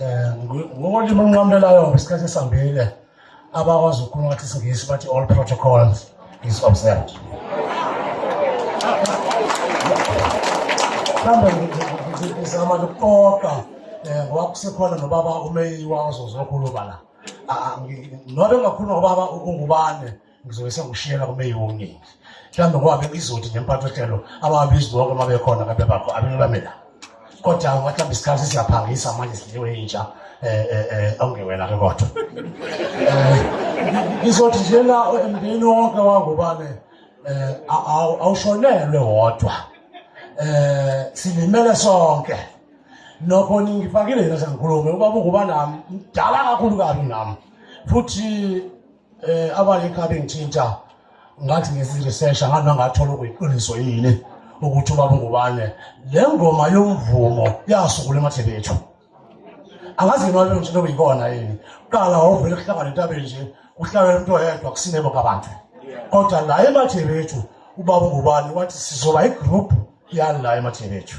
um ngokolimi olunqamlelayo isikhathi esihambile abakwazi ukukhuluma ngathi isingisi bathi all protocols is observed mhlawumbe ngizama nokuqoqa um ngoba kusekhona nobaba umeyiwa ozozokhuluma la nobe ngakhuluma ngobaba ungubane ngizobe sengishiyela kumeyi womningi mhlawumbe ngoba bengizodi nempatho hlelo ababizwi bonke uma bekhona ngabe bakho abanye bame la kodwa ngathi mhlawumbe isikhathi siyaphangisa manje sidliwe intsha um eh, eh, eh, awungewena-ke kodwa um ngizothi nje la emndeni wonke wangubane um awushonelwe wodwa um silimele sonke nokho ningifakile yena sengikhulume ubaba unguba nami mdala kakhulu kabi nami futhi eh abanye kabe ngithinta ngathi ngiziresearch ngathi nangathola ukuyiqiniso yini ukuthi ubaba ngubane le ngoma yomvumo yasukula emadlebe ethu angazi yini wabe ngitshela kuyikona yini qala wawuvele kuhlangana entabeni nje kuhlangana umuntu oyedwa kusinebo kabantu kodwa la emathebe ethu ubaba ngubane wathi sizoba igroup yala emathebe ethu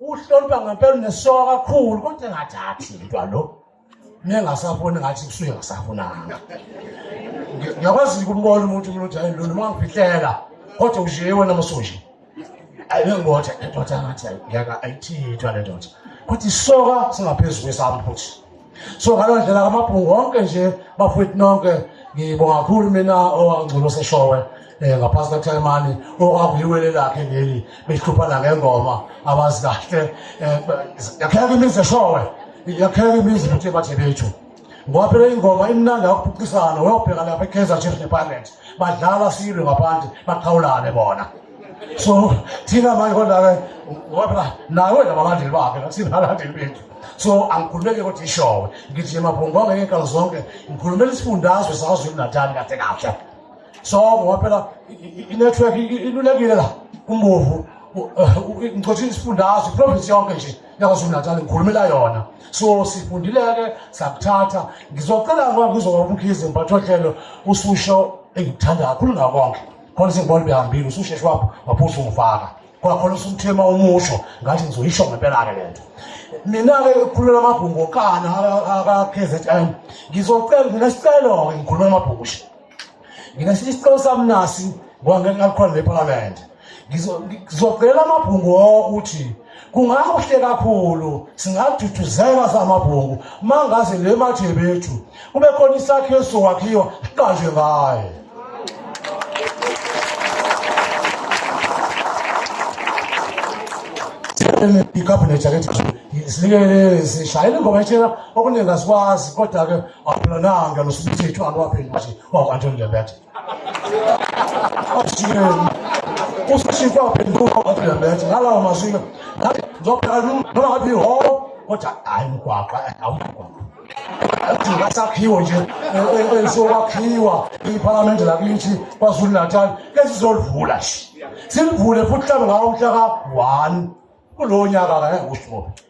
uhlonipha ngempela unesoka kakhulu kodwa engathathi mntwa lo nengasafuni ngathi kusuke ngasafunanga ngiyakwazi ukumbona umuntu umuntu hayi lo noma ngifihlela kodwa ujiye wena masoji ayengibotha indoda ngathi ngiyaka ayithithwa le ndoda kodwa isoka singaphezulu kwesami futhi so ngaleyo ndlela kamabhungu wonke nje bafowethu nonke ngibonga kakhulu mina owangcono seshowe um eh, ngaphasi kathaimani okwakuyiwele lakhe leli behluphana ngengoma abazi kahle eh, yakheka imizi eshowe yakheka imizi futhi ebathe bethu ngoba phela ingoma imnandi akuphucisana weyobheka lapha i-kaizer chiefs nepirates badlala silwe ngaphandle baqhawulane bona so thina manje kodwa-ke ngoba phela nawe nabalandeli bakhe nasingalandeli bethu so angikhulumeke kodwa ishowe ngithi emaphungwanga ngey'nkalo zonke ngikhulumela isifundazwe sakazulu natali kahle kahle so ngoba phela i-network ilulekile la kumbovu eh, ngicothe isifundazwe iprovinsi yonke nje yakazulu natali ngikhulumela yona so sifundile-ke sakuthatha ngizocela ngoba ngizoba umkhize mphathohlelo ususho engikuthanda kakhulu ngakonke khona sengibona behambile ususheshe wapho waphusa ungifaka kwakhona usumthema umusho ngathi ngizoyisho ngempela-ke le nto mina-ke ngikhulumela amabhungu okana aka-k z m ngizocela nginesicelo-ke ngikhulumela amabhungushe nginesishe isicelo sami nasi ngoba ngeke ngalikhona lephalamende ngizocela amabhungu okuthi kungakuhle kakhulu singaduduzeka samabhungu mangaze le mathe bethu kube khona isakhiwo esizokwakhiwa siqanjwe ngaye ikhabhinethi yakethi silekelele sishayele ingoma etshela okuningi asikwazi kodwa-ke awuphilonanga nosumithethu aluwaphenduthi wakwantoni lembethe usashintsha waphenduka wathi ngalawo mazwina ngathi ngizophela noma ngabe iholo kodwa hayi mgwaqa awumgwaqa udinga sakhiwo nje elisokwakhiwa iphalamende lakithi kwazulu natal esizolivula silivule futhi mhlawumbe ngawo mhla ka-one kulowo nyaka kangeke kusho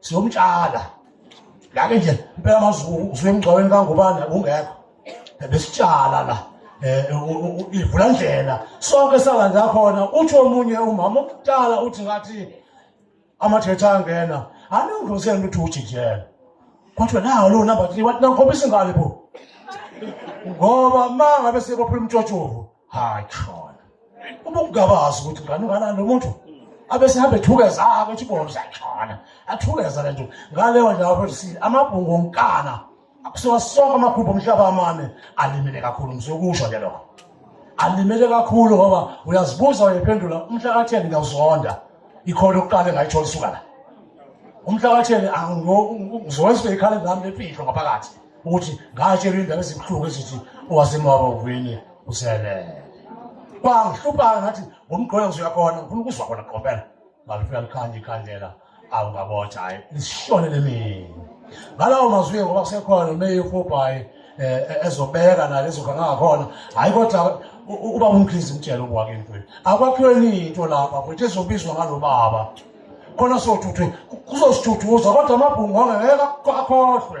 siyomtshala lake nje impela mazulu usuke emgcwabeni kangubani akungekho besitshala la um ivula ndlela sonke salandza khona utsho omunye umama omdala uthi ngathi amathetha angena aningozeni ukuthi ujijela kwathiwa nawo lowo number three wathi nangikhombisa ingane bo ngoba ma ngabe sebophula umtshotshovu hayi khona uma ungabazi ukuthi ngani ungalani lo muntu abe sihambe ethukeza ake ukuthi bobo siyashona athukeza le nto ngaleyo ndawo futhi si amabhungu onkana akusiwa sonke amakhupha omhlaba amane alimele kakhulu ngizokusho ke lokho alimele kakhulu ngoba uyazibuza uyephendula umhla katheni ngiyawuzonda ikhona ukuqala engayithola isuka la umhla katheni ngizokwenza ikhala ngami lemfihlo ngaphakathi ukuthi ngatshelwa indaba ezibuhlungu ezithi owasemaba uvini uselele kwangihluphayo ngathi ngomgqoya ngizoyakhona ngifuna ukuzwa khona qompela ngalifika likhanda ikhandlela awungabotha hhayi lisishone lemini ngalawo mazwi-ke ngoba kusekhona nomeyi ufobhayi um eh, eh, ezobeka nayo lezofa ngangakhona hhayi kodwa uba umkhizi mtshela ukwake mfethu akwakhiwe ninto lapha futhi ezobizwa ngalo baba khona sothuthu kuzosithuthuza kodwa amabhungu angeke akhohlwe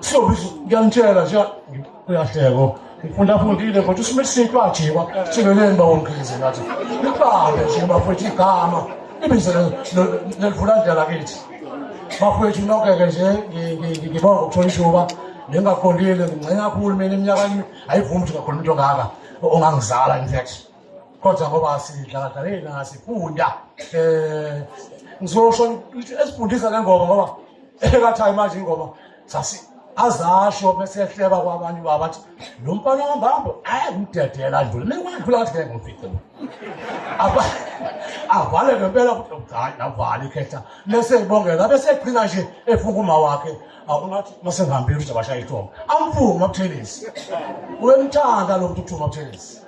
siyobiza ngiyangitshela nje uyahleko ngifunda afundile kodwa usime isintu ajikwa sibeleni bawongize ngathi libambe nje bafethu igama ibize nelivula ndlela kithi bafethu nokeke nje ngibonga ukuthola ishuba nengaqondile ngingcina kakhulu mina iminyaka ayivumi ukuthi ngakhuluma into ongaka ongangizala in fact kodwa ngoba sidlala hey ngasifunda eh ngizosho esifundisa le ngoma ngoba ekathayi manje ingoma sasi azasho bese ehleba kwabanye baba athi lo mfana wambambo ayangidedela nje mina kwadlula kathi ngeke ngifice aba avale ngempela ukuthi mdala navale ikhetha bese ibongela bese egcina nje efunga uma wakhe awunathi masengihambile ukuthi abashaya ithongo amfunga umabuthelisi uyemthanda lo mntu uthuma umabuthelisi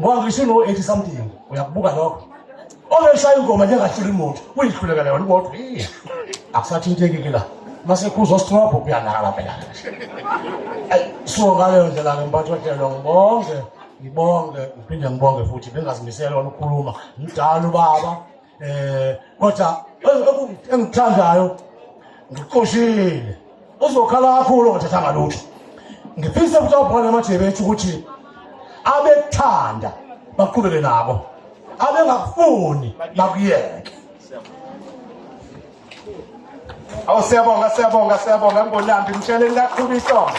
ngoba ngisho uno-eighty something uyakubuka lokho obeshaya ingoma njengahlula imoto uyihluleka leyo limoto akusathinteki-ke la masekhuza osithrobho kuyanakala phela so ngaleyo ndlela-ke mphathi wehlelo ngibonge ngibonge ngiphinde ngibonge futhi bengazimisele wona ukukhuluma mdala ubaba eh kodwa engithandayo ngiqoshile uzokhala kakhulu ngathatha ngalutho ngifisa ukuthi abhona amajebe ethu ukuthi abekuthanda baqhubeke nabo abengakufuni bakuyeke awu siyabonga siyabonga siyabonga ngibolambi ngitsheleni kakhulu isongo